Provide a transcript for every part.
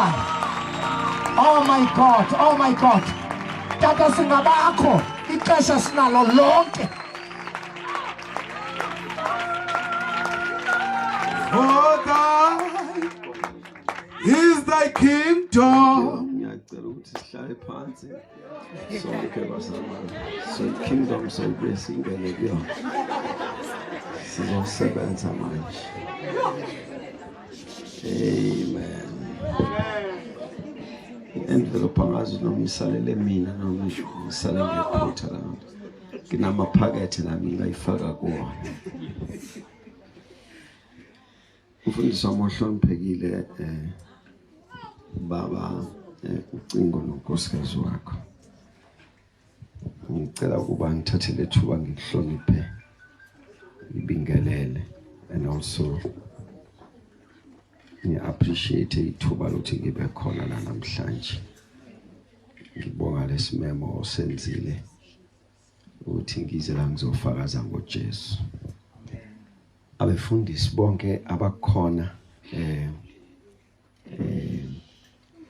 Oh my God, oh my God. Tata singabakho ixesha sinalo lonke. For thine is thy kingdom. sihlale phansi sonke basamane so kingdom sokubuye singene kuyona sizosebenza manje Amen. Endlela uphakathi nomsalele mina noma ngisho ngisalele ngephutha lami. Nginamaphakethe nami ngayifaka kuwona. Umfundisi wami ohloniphekile eh baba eh, ucingo nonkosikazi wakho. Ngicela ukuba ngithathe lethuba ngikuhloniphe ngibingelele and also ngi-appreciate ithuba lokuthi ngibe khona la namhlanje ngibonga lesimemo osenzile ukuthi ngize la ngizofakaza ngoJesu abefundisi bonke abakhona eh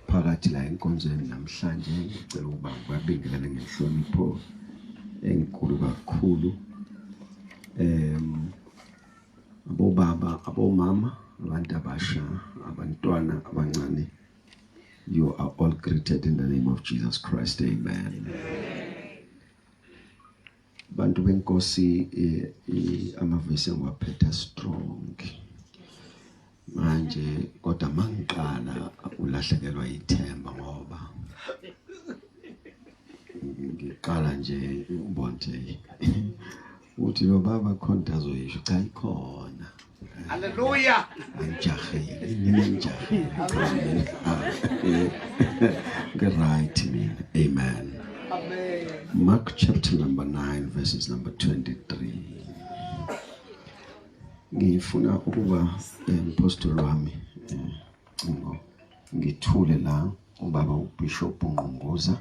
phakathi la enkonzweni namhlanje ngicela ukuba ngibabingelele ngenhlonipho enkulu kakhulu um abobaba abomama abantu abasha abantwana abancane you are all greeted in the name of Jesus Christ amen bantu benkosi amavesi engiwaphetha strong manje kodwa mangiqala ulahlekelwa ithemba ngoba ngiqala nje ubonje uthi lo baba khona azoyisho cha ikhona Hallelujah. Get right, man. Amen. Amen. Mark chapter number 9, verses number 23. Ngifuna ukuba umphostoli eh, wami eh, ngithule la ubaba uBishop Ngqongoza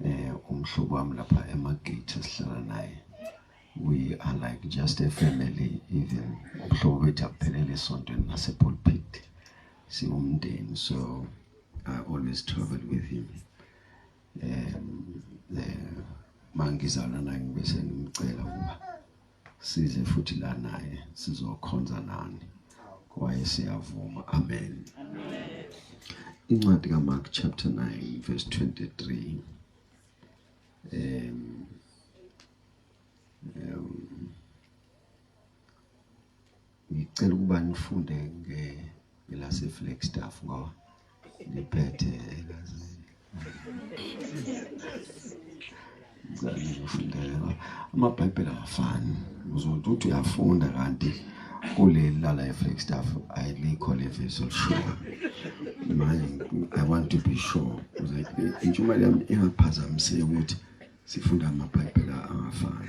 eh umhlobo wami lapha emagate sihlala naye we are like just a family even umhlobo wethu akuphelele esontweni nasepulpit siwumndeni so I always travel with him um eh, mangizalana ngibese ngimcela ukuba size futhi la naye sizokhonza nani wayesiyavuma amen incwadi kaMark chapter 9 verse 23 um um Ngicela ukuba nifunde nge ngelase Flagstaff ngoba ngiphethe egazini. Ngizame ngifunda ngoba amaBhayibheli awafani. Uzothi uthi uyafunda kanti kuleli lala eFlagstaff ayilikho leviso lishoyo. Manje I want to be sure ukuze intshumayelo yami ingaphazamiseki ukuthi sifunda amaBhayibheli angafani.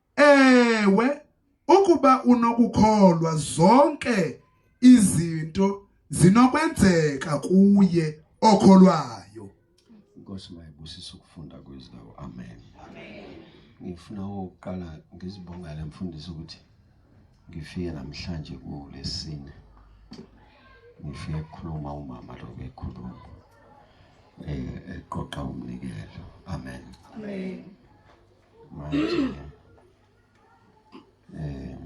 Ewe, ukuba unokukholwa zonke izinto zinokwenzeka kuye okholwayo. Inkosi mayibusise ukufunda kwezwi lawo. Amen. Amen. Ngifuna ukuqala ngizibongele mfundisi ukuthi ngifike namhlanje kulesine. Ngifike ukukhuluma umama lo bekhuluma. Eh eqoqa umnikelo. Amen. Amen. eh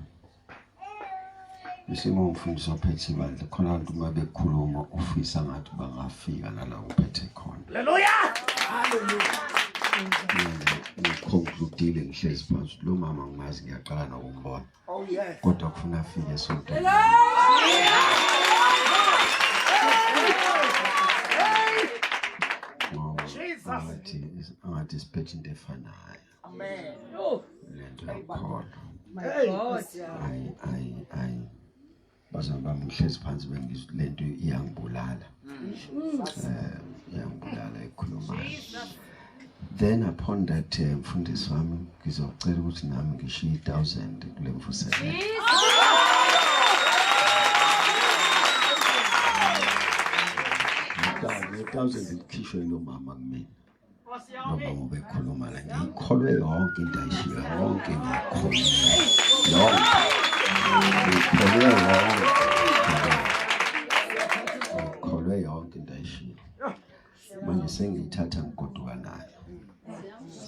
isimo umfundisi ophethe ibandla khona abantu uma bekhuluma ufisa ngathi bangafika nala uphethe khona haleluya haleluya ngikhonkludile ngihlezi phansi lo mama ngimazi ngiyaqala nokumbona Oh, kodwa kufuna afike esontweni angathi angathi siphethe into efanayo lento yakholwa ayi ayi ayi bazali bami ngihlezi phansi bengizwa le nto iyangibulala um iyangibulala ekhulumayo then upon that eh, mfundisi wami ngizocela ukuthi nami ngishiye i-thousand kule mvuselelo thousand ikhishwe yilomama kumina nobaba bekhuluma la ngiyikholwe yonke into ayishiyo yonke ngiyikholwe yonke ngiyikholwe yonke ngiyikholwe yonke into ayishiyo manje sengiyithatha ngigoduka nayo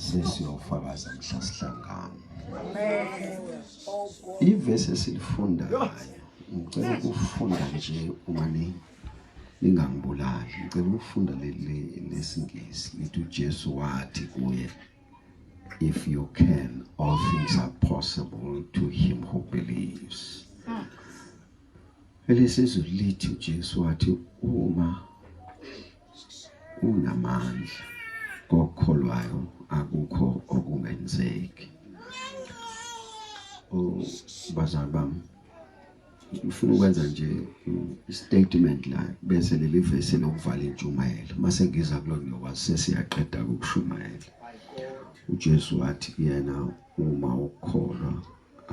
sesiyofakaza mhla sihlangana ivesi esilifundayo ngicela ukufunda nje umane ningangibulali ngicela ukufunda leli lesingisi lithi uJesu wathi kuye if you can all things are possible to him who believes hmm. elesizulu lithi uJesu wathi uma unamandla kokholwayo akukho okungenzeki ubazali bami ngifuna ukwenza nje istatement la bese leli vesi lokuvala intshumayelo mase ngiza kulo ngiyokwazi sesiyaqeda ukushumayela uJesu wathi kuyena uma ukholwa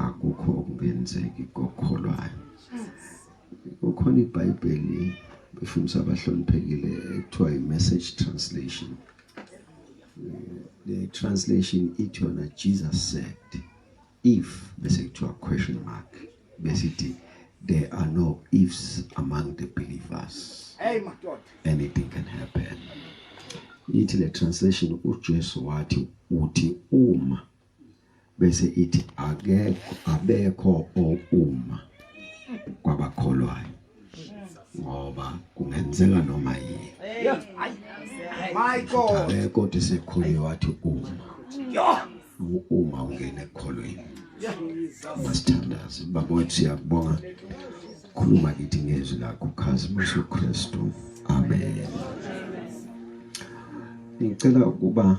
akukho okungenzeki kokholwayo ukhona iBhayibheli befundisa abahloniphekile ekuthiwa i-message translation eh, le translation ithi yona Jesus said If bese kuthiwa question mark besithi there are no ifs among the believers. Hey madoda. Anything can happen. Ithi le translation uJesu wathi uthi uma bese ithi akekho abekho ouma kwabakholwayo ngoba kungenzeka noma yini hayi kodwa sekhulile wathi uma uma ungena ekholweni masithandaze baba wethu siyakubonga khuluma kithi ngezwi lakho khazimisa uKristu amen ngicela ukuba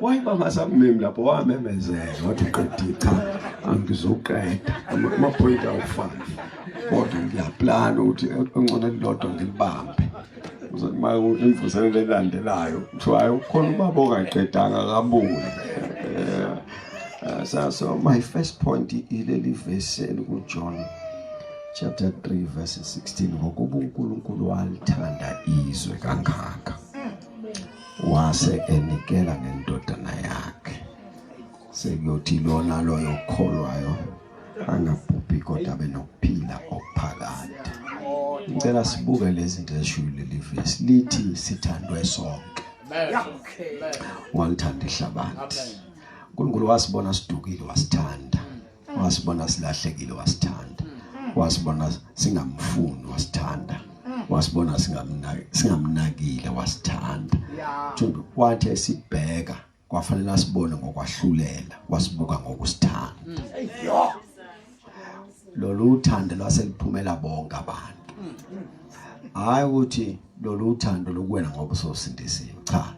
wayiba ngasakumemi lapho wamemezela wathi uqedile cha angizoqeda amaphoyinti awufani kodwa ngiyaplana ukuthi ongcono elilodwa ngilibambe uma imvuselelo elandelayo kuthiwa hayi ukhona ubaba ongaqedanga akabuye eh, eh, so, so my first point ileli vesi elikujohn chapter 3 verse 16 ngokuba unkulunkulu walithanda izwe kangaka wase enikela ngendodana yakhe sekuyothi lona loyo okholwayo angabhubhi kodwa abe nokuphila okuphakade ngicela sibuke lezi zinto ezishuyo leli vesi lithi sithandwe sonke walithanda ihlabathi uNkulunkulu wasibona sidukile wasithanda wasibona silahlekile wasithanda wasibona singamfuni wasithanda wasibona singamnaki singamnakile wasithanda thundu kwathi esibheka kwafanele asibone ngokwahlulela wasibuka ngokusithanda mm. lolu uthando lwaseliphumela bonke abantu mm. hayi ukuthi lolu uthando lokuwena ngoba sosindisiwe cha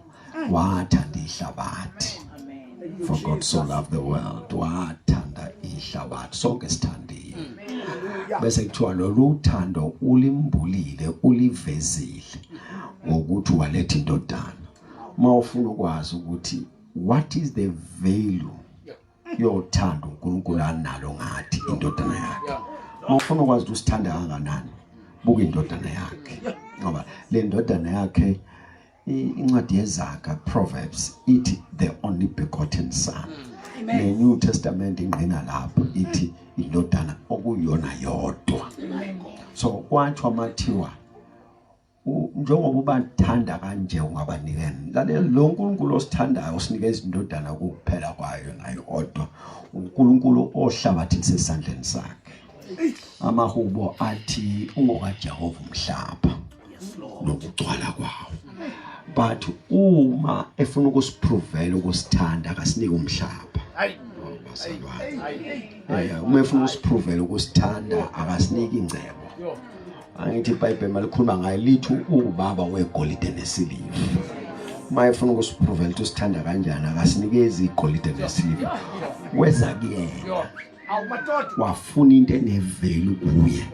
wathanda ihlabathi for God so loved the world wathanda ihlabathi sonke sithandile bese kuthiwa lolu thando ulimbulile ulivezile ngokuthi waletha indodana uma ufuna ukwazi ukuthi what is the value yothando uNkulunkulu analo ngathi indodana yakhe uma ufuna ukwazi ukuthi usithanda kanganani buka indodana yakhe ngoba le ndodana yakhe Incwadi yezaga Proverbs ithi the only begotten son. Mm. Ne New Testament ingqina lapho ithi indodana okuyona yodwa. So kwathi amathiwa njengoba ubathanda kanje ungabanikeni lalela lo nkulunkulu osithandayo usinike izindodana kuphela kwayo nayo odwa unkulunkulu ohlabathise esandleni sakhe amahubo athi ungokajehova umhlaba nokugcwala kwawo but uma efuna ukusiphrovela ukusithanda akasinike umhlaba eh, uma efuna usiphrovela ukusithanda akasinike ingcebo angithi ibhayibheli malikhuluma ngayo lithi uwubaba wegolide nesiliva uma efuna ukusiphrovela ukuthi usithanda kanjani akasinikezi igolide nesiliva weza kuyena wafuna into eneveli kuye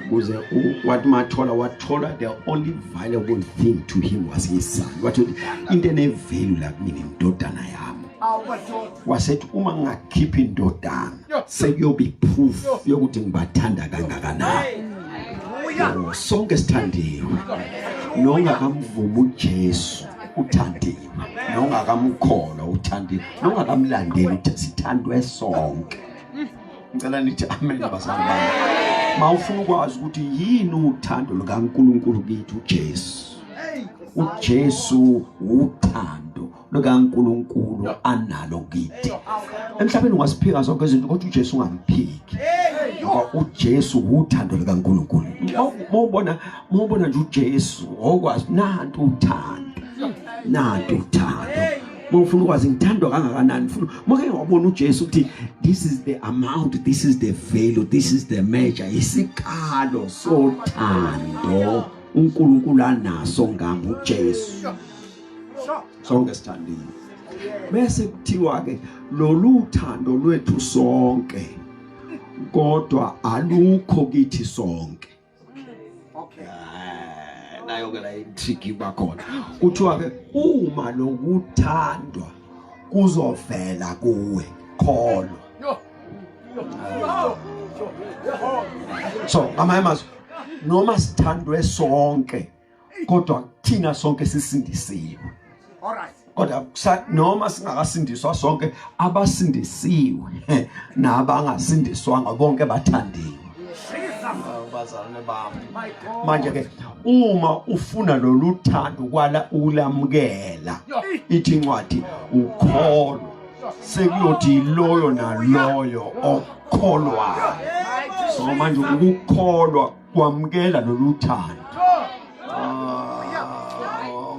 kuze wathi mathola wathola the only valuable thing to him was his son wathi into enevelu la kumina indodana yami wasethi uma ngingakhipha indodana sekuyoba iproof yokuthi ngibathanda kangakanani sonke sithandiwe nongakamvumi ujesu uthandiwe nongakamukholwa uthandi nongakamlandeli uthi sithandwe sonke ngicela nithi amen bazali bami ma ufuna ukwazi ukuthi yini uthando lukaNkulunkulu kithi uJesu uJesu uthando lukaNkulunkulu analo kithi emhlabeni ungasiphika zonke izinto kodwa uJesu ungamphiki ngoba uJesu uthando lukaNkulunkulu mawubona mubona nje uJesu ngokwazi nantu uthando nantu uthando mufuna ukwazi ngithandwa kangakanani funa make wabona uJesu ukuthi this is the amount this is the value this is the measure isikalo sothando uNkulunkulu anaso ngami uJesu sonke sithandile bese kuthiwa ke lolu thando lwethu sonke kodwa alukho kithi sonke Okay. Eh, nayo ke la intrigue iba khona. Kuthiwa ke uma lokuthandwa kuzovela kuwe kholo. So, amanye amazwi noma sithandwe sonke kodwa thina sonke sisindisiwe alright kodwa noma singakasindiswa sonke abasindisiwe nabangasindiswanga bonke bathandiwe bazalwane bami manje ke uma ufuna lolu thando kwala ulamukela ithi incwadi ukholwa sekuyothi loyo naloyo okholwayo so manje ukukholwa wamukela lolu thando ah,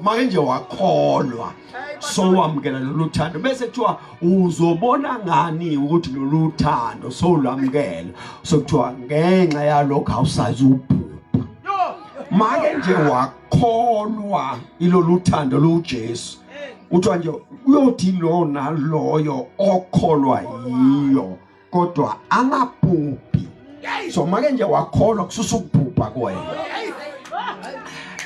make nje wakholwa sowamukela lolu thando bese kuthiwa uzobona ngani ukuthi lolu thando sowulwamukela sokuthiwa ngenxa yalokho awusazi ubhubha make nje wakholwa ilolu thando luJesu kuthiwa nje uyothi lona loyo okholwa yiyo kodwa angabhubhi so make nje wakholwa kususa ukubhubha kwena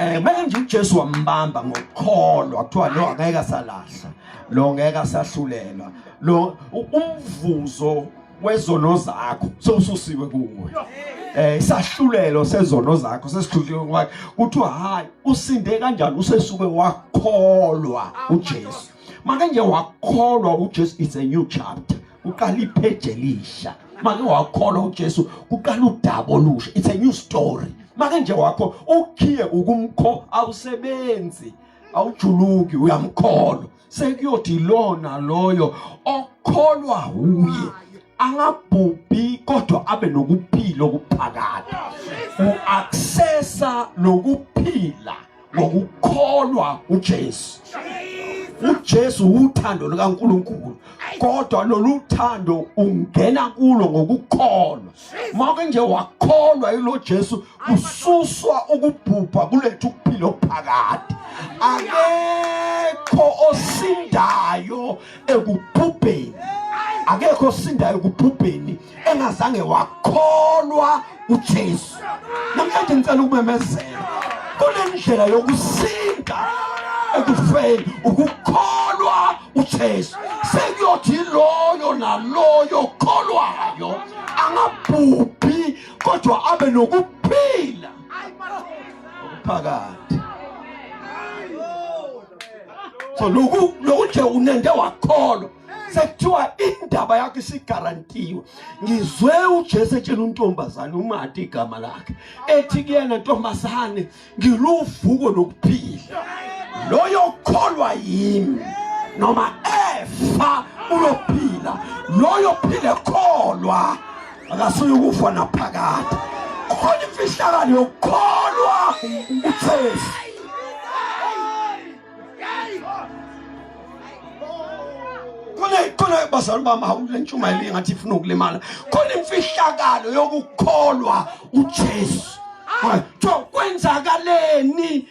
eh make nje uJesu wambamba ngokukholwa kuthiwa lo angeke asalahla lo ngeke asahlulelwa lo umvuzo wezono zakho sewususiwe kuwe eh isahlulelo sezono zakho sesihluliwe ngoba kuthiwa hayi usinde kanjani usesuke wakholwa uJesu make nje wakholwa uJesu it's a new chapter kuqala ipage elisha make wakholwa uJesu kuqala udaba olusha it's a new story make nje wakho ukhiye ukumkho awusebenzi awujuluki uyamkholwa sekuyothi lona loyo okholwa uye angabhubhi kodwa abe nokuphila okuphakade uaccessa lokuphila ngokukholwa uJesu uJesu uthando likaNkuluNkulu kodwa lolu thando ungena kulo ngokukholwa mawuke nje wakholwa yilo Jesu kususwa ukubhubha kulethu ukuphila okuphakade akekho osindayo ekubhubheni akekho osindayo ekubhubheni engazange wakholwa uJesu namhlanje ngicela ukumemezela kunendlela yokusinda ekufeni ukukholwa uJesu sekuyothi loyo naloyo kholwayo angabhubhi kodwa abe nokuphila phakathi so loku loku nje unende wakholwa sekuthiwa indaba yakho isigarantiwe ngizwe ujesu etshela untombazane umati igama lakhe ethi kuyena ntombazane ngiluvuko nokuphila loyo kholwa yimi noma efa uyophila loyo phile kholwa akasuye ukufa naphakade khona imfihlakalo yokukholwa ujesu khona khona bazali bami hawule ntshumayelo engathi ifuna ukulimala khona imfihlakalo yokukholwa uJesu kuthiwa kwenzakaleni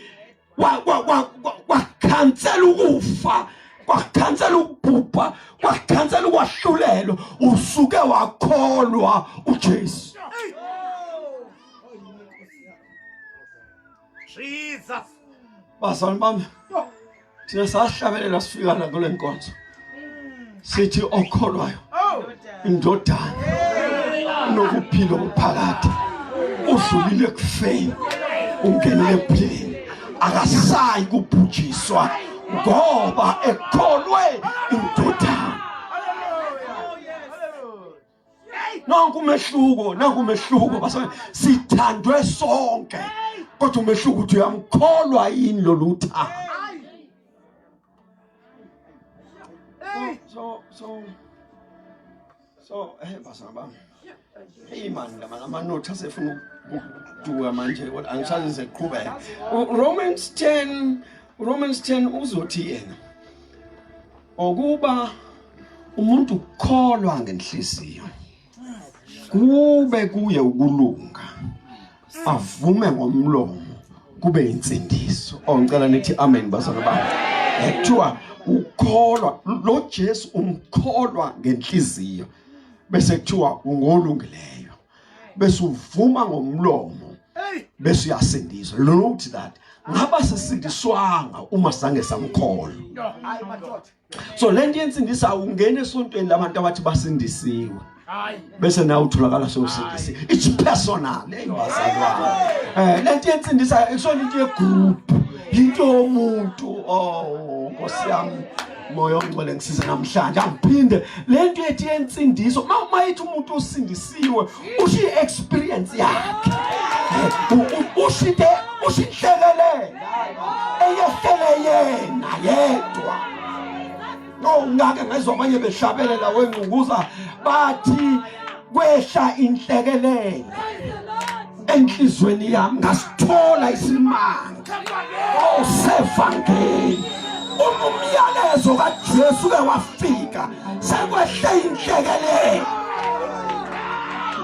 wakhansela ukufa kwakhansela ukubhubha kwakhansela ukwahlulelwa usuke wakholwa uJesu Jesus. Bazalwane bami. Thina sahlabelela sifika la kule nkonzo. Sithi okholwayo. Oh. Indodana. Nokuphila okuphakade. Udlulile kufeni. Ungenile ephileni. Akasayi kubhujiswa ngoba ekholwe indodana. nanku umehluko nanku umehluko basana sithandwe sonke kodwa umehluko uthi uyamkholwa yini lo luthando so so so eh basana bami hey man ngama amanothi asefuna ukuduka manje kodwa angisazi seqhubeka Romans 10 Romans 10 uzothi yena Okuba umuntu ukholwa ngenhliziyo kube kuye ukulunga avume ngomlomo kube insindiso oh ngicela nithi amen bazalwa bami ekuthiwa ukholwa lo Jesu umkholwa ngenhliziyo bese kuthiwa ungolungileyo bese uvuma ngomlomo bese uyasindiswa lo nokuthi that ngaba sisindiswanga uma sange samkholwa hayi madoda so lento yensindisa ungena esontweni labantu abathi basindisiwe hayi bese nawe utholakala sewusindisi it's personal eyibazalwana eh lento yensindisa ikusona into yegroup into yomuntu oh nkosiyami moya ongcwele ngisize namhlanje angiphinde le nto ethi yensindiso uma yithi umuntu usindisiwe usho i-experience yakhe usho into usho inhlekelele eyehlele yena yedwa no ngake ngezwa abanye behlabelela wengqukuza bathi kwehla inhlekelele enhlizweni yami ngasithola isimanga oh sevangeli uma umyalezo kaJesu ke wafika sekwehle inhlekelele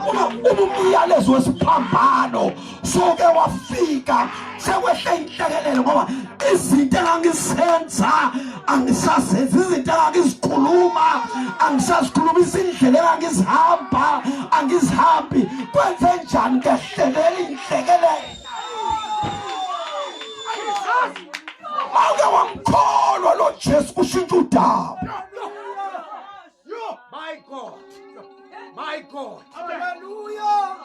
uma umyalezo wesiphambano soke wafika sekwehle inhlekelele ngoba izinto engangizenza angisazenzi izinto engangizikhuluma angisazikhuluma izindlela engangizihamba angizihambi kwenze njani ngehlelela inhlekelele awuke wamkholwa lo jesu kushintsha udaba My God. My God. Hallelujah.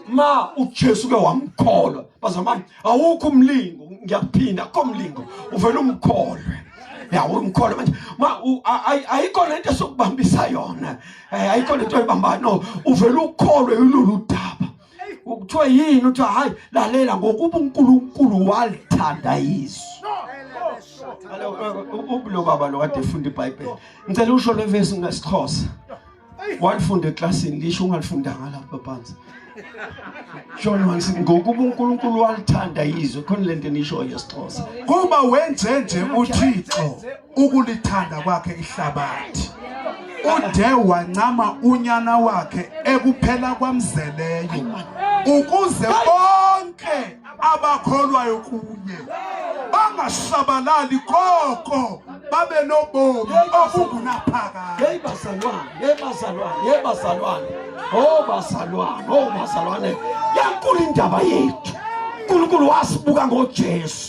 Ma uJesu ke wamkholwa. Bazamama awukho umlingo ngiyakuphinda akho umlingo uvela umkholwe. yawo umkholo manje ma ayikho lento esokubambisa yona eh, ayikho lento oyibambayo no uvela ukholwe yilolu daba kuthiwa yini kuthiwa hayi lalela ngokuba uNkulunkulu walithanda izwi ubulo baba lo kade efunda iBhayibheli ngicela usho le verse ngesixhosa walifunda eklasini lisho ungalifundanga lapha phansi John Wansi ngokuba uNkulunkulu walithanda izwe khona lento enishoyo yesixhosa kuba wenze nje uThixo ukulithanda kwakhe ihlabathi ude wancama unyana wakhe ekuphela kwamzeleyo ukuze bonke abakholwayo kuye bangashabalali koko babe nobomi obungunaphakade hey bazalwane hey bazalwane hey bazalwane oh bazalwane oh bazalwane yankulu indaba yethu uNkulunkulu wasibuka ngoJesu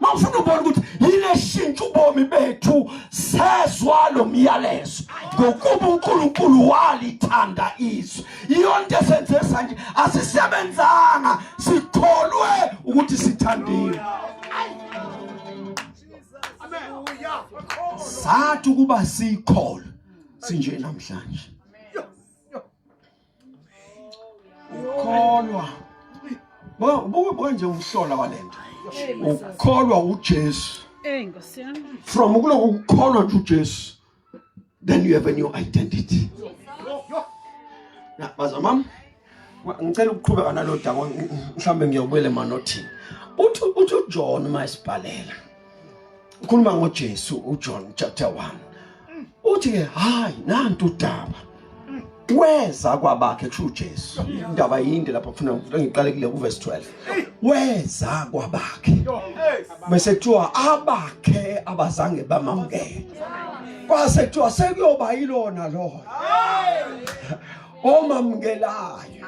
mawufuna ubona ukuthi yile shintsha ubomi bethu sezwa lo myalezo ngokuba uNkulunkulu walithanda izwe iyonto esenze sanje asisebenzanga sikholwe ukuthi sithandiwe sathi ukuba sikholwe sinje namhlanje ukholwa buka nje umhlola walento ukholwa uJesu from ukuloku ukukholwa nje uJesu then you have a new identity baza mama ngicela ukuqhubeka nalo daba mhlawumbe ngiyobuyela emanothini uthi uthi uJohn uma esibhalela ukhuluma ngoJesu uJohn chapter 1 uthi ke hayi nantu udaba weza kwabakhe kusho uJesu indaba yinde lapha kufuna ngiqale kule ku verse 12 weza kwabakhe bese kuthiwa abakhe abazange bamamukele kwase kuthiwa sekuyoba yilona lona omamukelayo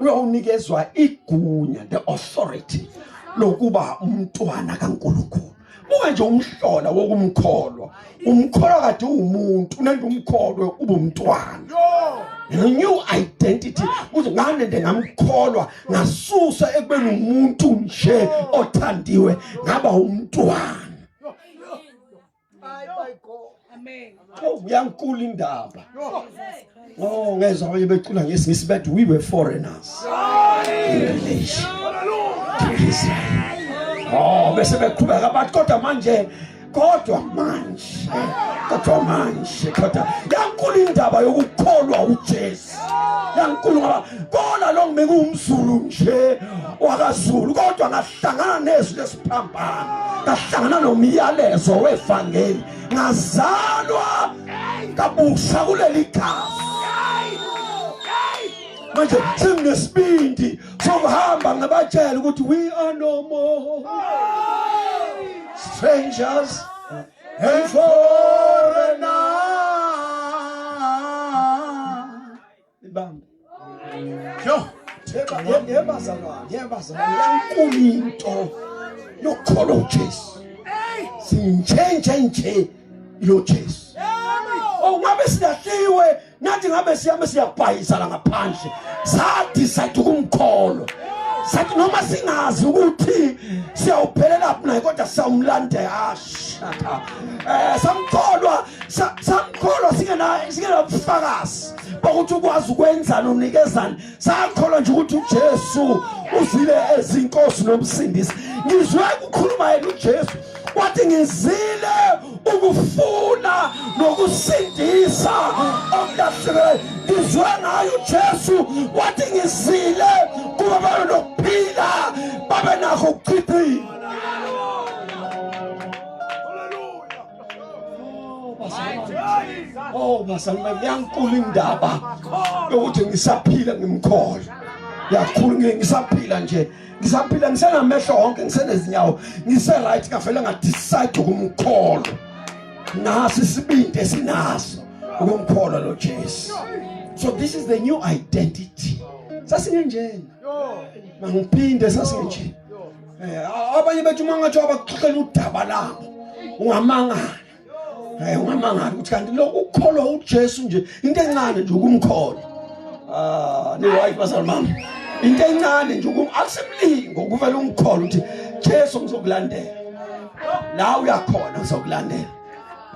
uyawunikezwa igunya the authority lokuba umntwana kaNkulunkulu buka nje umhlola wokumkholwa umkholwa kade uwumuntu unento umkholwe ubumntwana the new identity uze nganende ngamkholwa ngasusa ekubeni umuntu nje othandiwe ngaba umntwana Oh, uyankulu indaba oh ngezwa abanye becula ngesingisi bathi we were foreigners oh bese beqhubeka bathi kodwa manje kodwa manje kodwa manje kodwa yankulu indaba yokukholwa uJesu yankulu ngoba kona lo ngimekuwumzulu nje wakazulu kodwa hlangana nezwi lesiphambano ngahlangana nomyalezo wevangeli ngazalwa kabusha kuleli gazi manje senginesibindi sokuhamba ngibatshela ukuthi we are no more strangers and foreigners ibambe yo theba yeba zalwane yeba zalwane yankulu into yokholo uJesu sinjenje nje lo Jesu oh ngabe silahliwe nathi ngabe siyame siyabhayisa la ngaphandle sa decide ukumkholo sathi noma singazi ukuthi siyawuphelela phi naye kodwa siyawumlandela hasha eh samkholwa samkholwa singena singena ubufakazi bokuthi ukwazi ukwenzani unikezani sakholwa nje ukuthi uJesu uzile ezinkosi nomsindisi ngizwe kukhuluma yena uJesu wathi ngizile ukufuna nokusindisa okulahlekelwe ngizwe ngayo uJesu wathi ngizile kuba babe nokuphila babe nakho ukuchithina Oh bazali bami yankulu indaba yokuthi ngisaphila ngimkhola yakhulu ngisaphila nje ngisaphila ngisenamehlo wonke ngisenezinyawo ngise-right ngavele ngadicide ukumkholwa naso isibindi esinaso ukumkholwa lo jesu so this is the new identity sasingenjena mangiphinde sasingenjena eh, abanye bethu uma ngathiwa bakuxoxela udaba labo ungamangala hayi eh, ungamangala ukuthi kanti lokhu ukukholwa ujesu nje into encane nje ukumkholwa ah ni-right bazali mama into encane nje akusemlingo kuvele umkholwa ukuthi jesu ngizokulandela la uyakhona ngizokulandela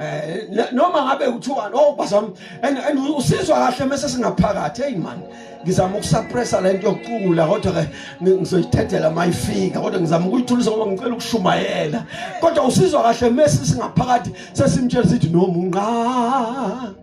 eh noma ngabe uthiwa oh bazam and and usizwa kahle mase singaphakathi hey man ngizama ukusuppressa lento yokucula kodwa ke ngizoyithethela mayifika kodwa ngizama ukuyithulisa ngoba ngicela ukushumayela kodwa usizwa kahle mase singaphakathi sesimtshela sithi nomunqa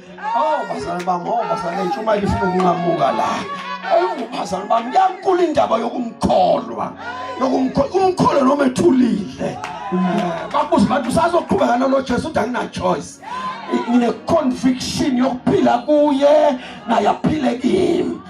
Oh, bazalwane bami, oh, bazalwane bethu, uma lifuna ukunqamuka la. Awu, bazalwane bami, kuyankulu indaba yokumkholwa. Yokumkholwa, umkholwa noma ethulile. Bakuze abantu usazoqhubeka nalo Jesu uthi angina choice. Ngine conviction yokuphila kuye naye aphile kimi.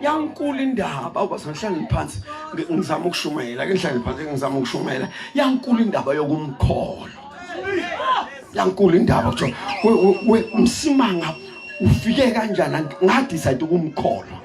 yankulu indaba awubazangihlale ngiphansi ngizama ukushumayela ke ngihlale phansi ngizama ukushumayela yankulu indaba yokumkholo yankulu indaba kuthiwa msimanga ufike kanjani ngadecide ukumkholwa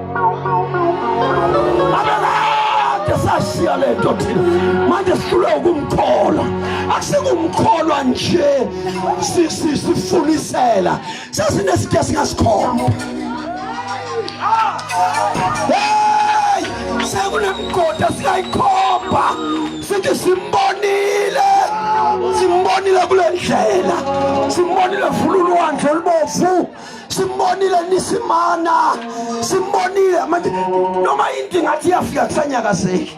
sashiya le nto thina manje sihlulwe ukumkholwa akusikumkholwa nje sifunisela sasinesithe esingasikholwa hey sekunemgodi esikayikhomba sithi simbonile simbonile kule ndlela simbonile vululwandle olubovu simbonile nisimana simbonile manje noma into ngathi iyafika kusanyakazeki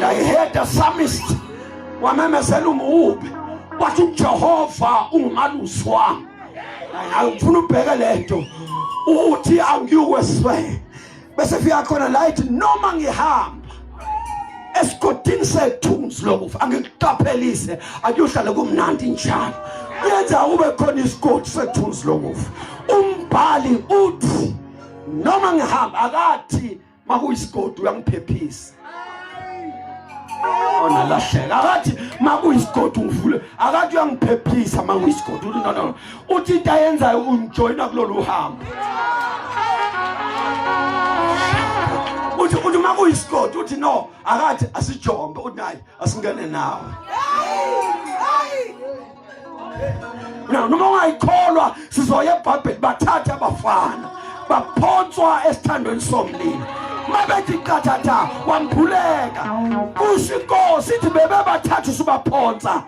I heard the psalmist wamemezela umubi wathi uJehova ungumalusi wami angifuna ubheke lento uthi angiyukwesifeke bese fika khona la ithi noma ngihamba esigodini sethunzi lokufa angikuqaphelise akuyohlala kumnandi njalo yenza kube khona isigodi sethunzi lokufa umbhali uthi noma ngihamba akathi makuyisigodi uyangiphephisa ona lahleka akathi makuyisigodi ungivule akathi uyangiphephisa makuyisigodi uthi no no uthi into ayenzayo ungijoyina kulolu hambo uthi uthi makuyisigodi uthi no akathi asijombe uthi nayi asingene nawe na noma ungayikholwa sizoya ebhabheli bathathe abafana baphonswa esithandweni somlilo mabethi qathatha wambhuleka kusho inkosi ithi bebebathathu subaphonsa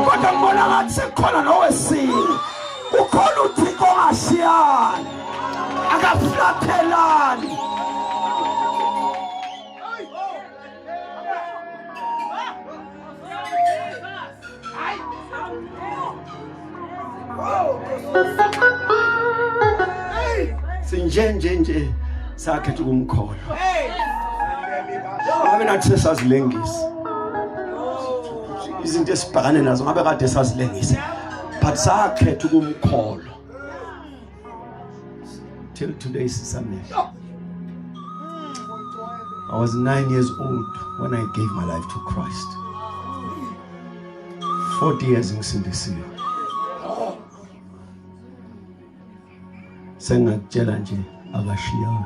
kodwa ngibona ngathi sekukhona nowesini ukhona uthixo ongashiyani akaflathelani nje nje nje sakhetha ukumkholwa ngabe nathi sesazilengisa izinto esibhekane nazo ngabe kade sazilengisa but sakhetha ukumkholwa till today sisamehlo I was 9 years old when I gave my life to Christ 40 years ngisindisiwe sengakutshela nje akashiyanga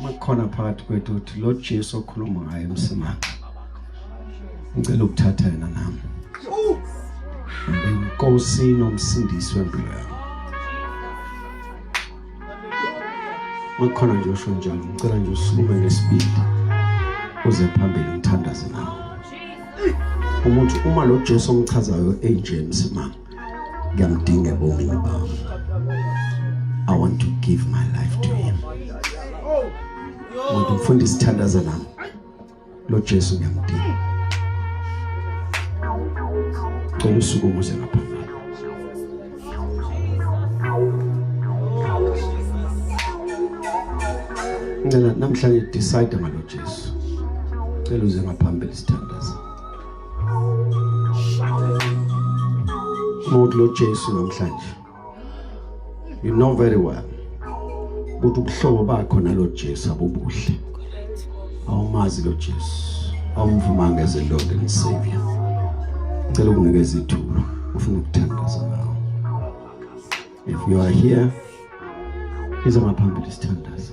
makukhona phakathi kwethu ukuthi lo Jesu okhuluma ngaye emsimanga ngicela ukuthatha yena nami inkosi nomsindisi wempilo yami makukhona nje usho njalo ngicela nje usukume ngesibili uze phambili ngithandaze nawe umuntu uma lo Jesu omchazayo enje emsimanga ngiyamdinga ebomini bami i want to give my life to him umuntu mfunda isithandazo nami lo Jesu ngiyamdinga cela usuku umuze ngapha ngicela namhlanje decide ngalo Jesu cela uze ngaphambili sithandaza Muthi lo Jesu namhlanje. You know very well. Ukuthi ubuhlobo bakho nalo Jesu abubuhle. Awumazi lo Jesu. Awumvumanga as a Lord and Savior. Ngicela ukunikeza ithuba. Ufuna ukuthandaza nawe. If you are here, iza ngaphambili sithandaza.